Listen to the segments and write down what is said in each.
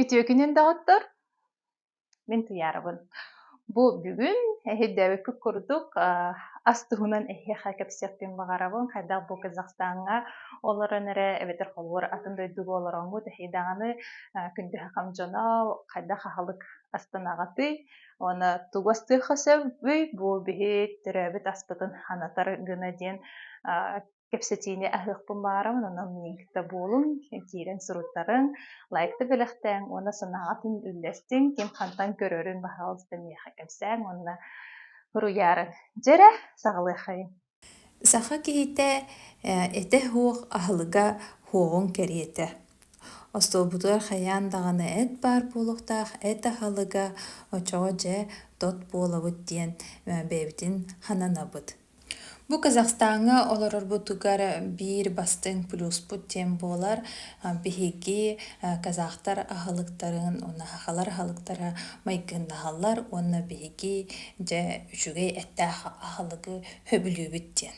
Үтүөкүнэн доҕоттор, мин Туйаарабын. Бу бүгүн эһирдээбиккит курдук ас туһунан эһиэхэ кэпсиэхпин баҕарабын. Хайдах бу Казахстаҥҥа олорон эрэ эбэтэр холобур атын дойдуга олороҥҥут эһи даҕаны күндүһэхэм дьоно хайдах аһылык астанаҕытый? Уонна тугу астыахха сөбүй бу биһи төрөөбүт аспытын анатар гына диэн кэпсэтиини аһыахпын баҕарам онон миигитэ буолуҥ киирэн суруттарыҥ лайкта бэлэхтээҥ уонна санааҕытын үллэстиҥ ким хантан көрөрүн баһаҕалыста миэхэ кэпсээҥ уонна уруйаарыҥ дьэ эрэ саҕалыаххайыҥ саха киһитэ этэ суох аһылыга суоҕун кэриэтэ остуолбутугар хайаан даҕаны эт баар буолуохтаах эт аһылыга оччоҕо дьэ тот буолабыт диэн бэйэбитин хананабыт Бу Казахстаҥҥа олорорбутугар биир бастыҥ плюспут диэн буолар. Биһиги казахтар аһылыктарын унаһахалар аһылыктара майгыннаһаллар уонна биһиги дьэ үчүгэй эттээх аһылыгы сөбүлүүбүт диэн.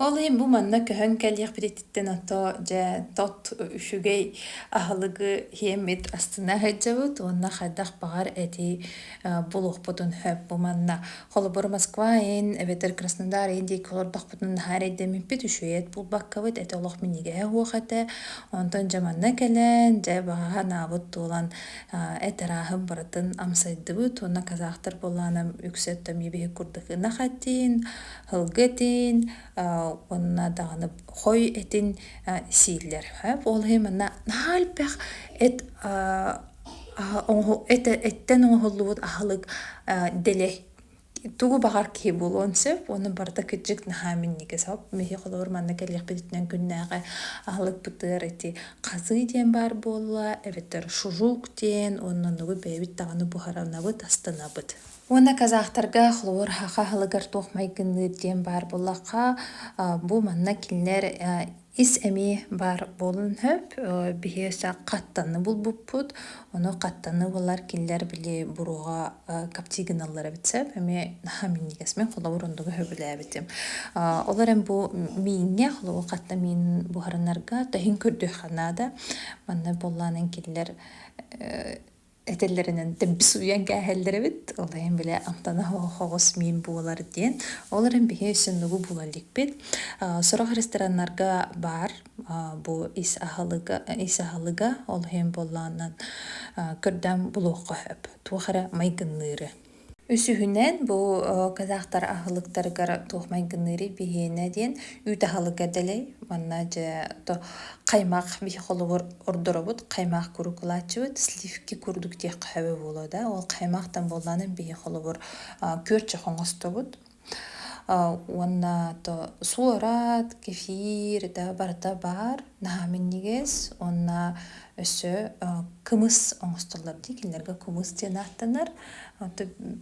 Ол иһин бу манна көһөн кэлиэхпититтэн ото дьэ тот үчүгэй аһылыгы иэммит астына сылдьабыт уонна хайдах баҕар эти булуохпутун сөп бу манна. Холобур, Москва ин эбэтэр Краснодар ин диэки олордохпутуна наһаа эрэйдэммиппит, үчүгэйэт булбаккабыт, эти олох минигэһэ уох этэ. Онтон дьэ манна кэлэн дьэ баҕаһа анаабыт туолан а эт арааһын барытын амсайдыбыт уонна казахтар буоллаанам үксэ өттөмүү биһи курдук ынах этин, һылгы этин, а уонна даҕаны хой этин а сииллэр. Ээ ол иһин манна наһаа элбэх эт а эттэн оҥоһуллубут аһылык дэлэй тугу баҕар киһи булуон сөп ону барыта кырдьык наһаа минньигэс хоп биһиги холобур манна кэлиэхпититтэн күннээҕи аһылыкпытыгар ити хазыы диэн баар буолла эбэтэр шужук диэн онно оннугу бэйэбит даҕаны буһарынабыт астынабыт уонна казахтарга холобур хаха аһылыгар туох майгынныыр диэн баар буоллахха бу манна кинилэр Ис эмиэ баар буолуон сөп. Биһи хаттаны булбуппут. Ону хаттаны булар кинилэр били буруоҕа каптигыналлар эбит сөп. Эмиэ наһаа минньигэсмин холобур ондуга сөбүлээбитим. Олор эн бу мииҥҥэ холобур хатта миин буһарынарга тэһин көрдүөххэ наада. Манна буоллаан эн кинилэр этэллэринэн темпи суйан кээһэллэр эбит ол иһин бile амтана хоҕос миин буолар диэн ол эрэн биһи сүннүгу була иликпит сорох рестораннарга баар бу ис аһылыга ис аһылыга ол иһин буоллаанан көрдөөн булуохха сөп туох эрэ майгынныыры Үсүһүнэн, бу казахтар аһылыктарыгар туох майгыныырый биһиэнэ диэн үүт аһылыга дэлэй. Манна дьэ каймак биһи холобур ордоробут. Каймак куруук ылааччыбыт. Сливки курдук диэххэ сөбө буолуо да. Ол каймактан буоллаанан биһи холобур күөрчэх оҥостобут. уонна то суорат кефир да барыта баар наһаа минньигэс уонна өссө кымыс оҥостоллор дии кинилэргэ кымыс диэн ааттанар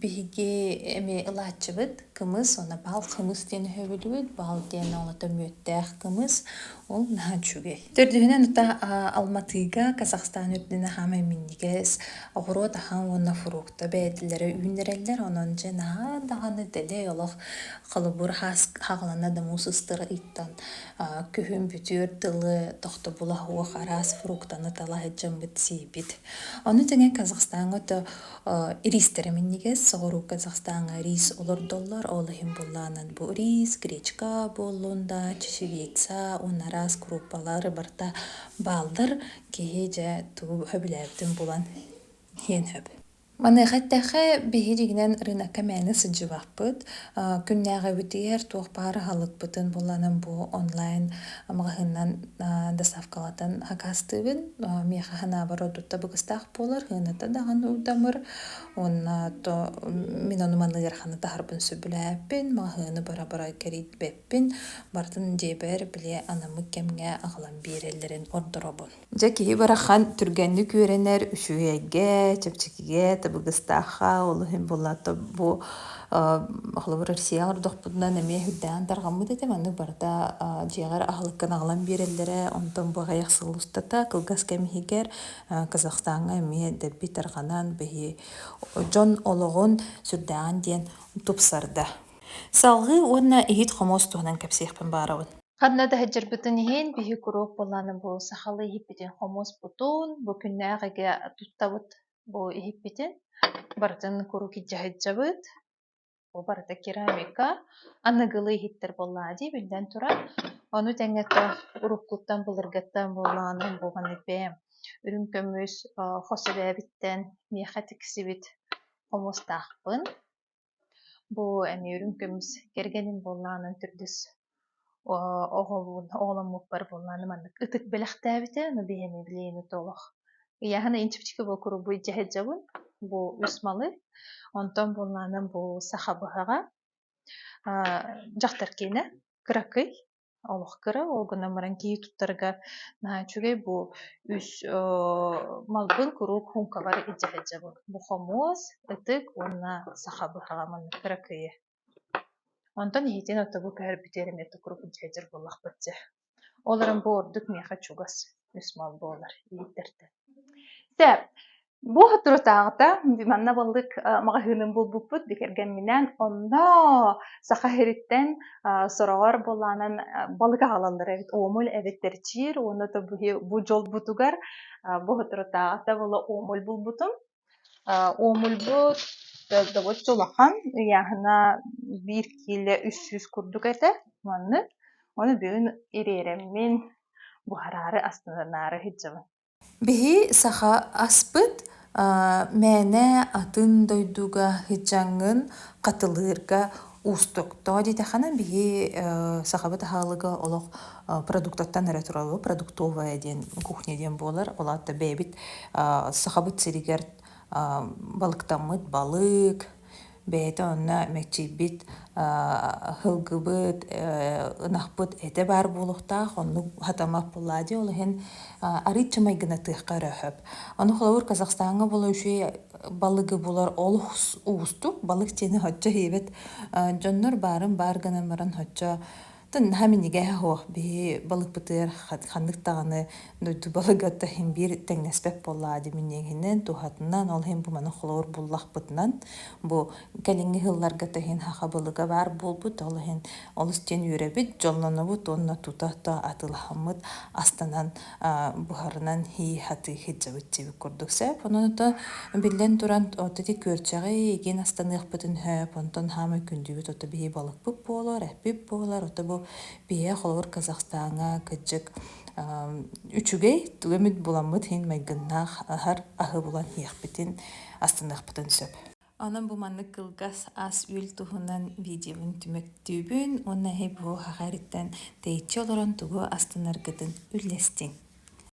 биһиги эмиэ ылааччыбыт кымыс уонна бал кымыс диэн өһөбүлүбүт бал диэн оҕолото мүөттээх кымыс ол наһаа үчүгэй Төрдүһүнэн тута Алматыга, Казахстан үрдүнэ хаамай минньигэс, оҕуруот ахан уонна фрукта бэйэтилэрэ үүннэрэллэр. Онон дьэ наһаа даҕаны дэлэй олох холобур хаҕылана да муус ыстыра ыйтан күһүн бүтүөр тылы тохтобула суох араас фруктаны тала сыдьаммыт сиибит. Ону тэҥэ Казахстаҥҥа өтө Ириистэрэ минньигэс, соҕуруу Казахстаҥҥа рис олордоллор. Ол иһин буоллаҕынан бу рис, гречка буоллун да, чечевица уонна араас курууппалар барыта бааллар. Киһи дьэ тугу сөбүлээбитин булан иһиэн сөп. Маныаха эттэххэ, биһиги рынокка мээнэ сылдьыбаппыт. Күннээҕибитигэр туох баар аһылыкпытын булланым бу онлайн маҕаһыыннан доставкалатан акаастыыбын. Миэхэ ханаабар ордук табыгастаах буолар һыаната даҕаны удамыр уонна то мин ону манныгар ханы таһарбын сөбүлээппин маҕаһыыны бара-бара кэрийбэппин бартын дьиэбэр бile анамык кэмҥэ аҕалан биэрэллэрин ордоробун дьэ киһи барахан түргэнник үөрэнэр үчүгэйгэ чэпчэкигэ табыгыстаахха ол иһин буллато бу холобур россияҕа ордохпутунан эмиэ үрдээн тарҕаммыт этэ маннык барыта дьиэҕэр аһылыккын аҕалан биэрэллэрэ онтон бу аҕыйах сыл устата кылгас кэм иһигэр Казахстаҥҥа эмиэ эрдэрбит тарҕанан биһи дьон олоҕун сүрдээҕин диэн тупсарда. Салгыы уонна иһит-хомуос туһунан кэпсиэхпин баарабын. Ханна да сылдьарбытын иһин биһи куруук буоллааны бу сахалыы иһиппитин хомуоспутун бу күннээх эгэ туттабыт бу иһиппитин барытын куруук илдьэ сылдьабыт Бу барыта керамика. Аныгылыы иһиттэр буоллаҕа дии, биллэн турар. Ону тэҥэ то уруккуттан былыргыттан буоллаҕына буолан эбээм. Үрүҥ көмүс э, хос эбээбиттэн миэхэ тиксибит хомустаахпын. Бу эмиэ үрүҥ көмүс кэргэним буоллаҕынан төрдүс оҕолуун оҕоломмуппар буоллааны маннык ытык бэлэхтээбитэ но биһэми билиэни толох ыйааһына инчипчики бу курубуй дьэһэдьэбун бу үс малы онтон буоллаанан бу саха быһаҕа дьахтар киэнэ кыракый олох кыра ол гынан баран киһи туттарга наһаа үчүгэй бу үс малбын куруук хуумкабар илдьэһэдьэбин бу хомуос ытык уонна саха быһаҕа маннык кыракыйы Онтон иһитин отобу көһөрбүтү эрэ эмиэ тукурук дьэһдьэр буоллахпыт дьэ, ол эрэн бу ордук миэхэ чугас, үс мал буолар иһиттэртэн. Сэ, бу сотрутааҕыта манна балык маҕаһыынын булбуппут бикэргэмминээн онно Саха сириттэн сороҕор буолаанан балык аҕалаллара эбит, омуль эбит тэрчиир уонна то бу дьолбутугар бу сотрутааҕыта була омуль булбутум. Уомульбут төрдөбүт улахан, ыйааһына биир киилэ үс сүүс курдук этэ маннык. Ону бүгүн ириэриммин буһараары астынаары иһитиннэбин Биһи саха аспыт мээнэ атын дойдуга ыһдьаҥҥын хатылыырга Уустук. Тоҕо диэтэххинэ, биһи э, сахабыт аһылыга олох э, продуктаттан эрэ турабы продуктовая диэн кухня диэн буолар. Ол аата бэйэбит э, сахабыт сиригэр балыктаммыт балык, бэйэтэ онно мэччийбит һылгыбыт ынахпыт этэ баар буолуохтаах оннук хатамаппылаа диэ ол иһин арыыччы майгына тыахха өрө хөп ону холобур казахстаҥҥа була үчү балыгы булар олус уустук. Балык дьиэни һоччо һиэбэт дьоннор баарын баар гынан баран һоччо наһаа минигэһэ һуох биһи балыкпытыгар ханнык даҕаны дойду балыгыта иһин биир тэҥнэспэт буоллаҕа дии миниэгинэн туһатынан ол иһин бу маны холобур буллахпытынан бу кэлиҥҥи сылларга да иһин саха балыга баар буолбут ол иһин олус диэн үөрэбит дьоллонобут уонна тута-тута атылаһаммыт астанан буһарынан һии хатыы хитжабытчибит курдук сеп онута биллэн туран оттити күөрчэҕи игин астаныахпытын хөп онтон хаама күндүбүт ото бии балыкпыт буолар эппит буолар ото бу бие холобур казахстаҥа кыджык үчүгэй түгөмүт буламмыт һин майгыннаах аһар аһы булан һиэхпитин астаныахпытын сөп Онон бу маннык кылгас ас-үөл туһунан видеобун түмүктүүбүн уонна бу аҕа эриттэн тэйиччи олорон тугу астынаргытын үллэстиҥ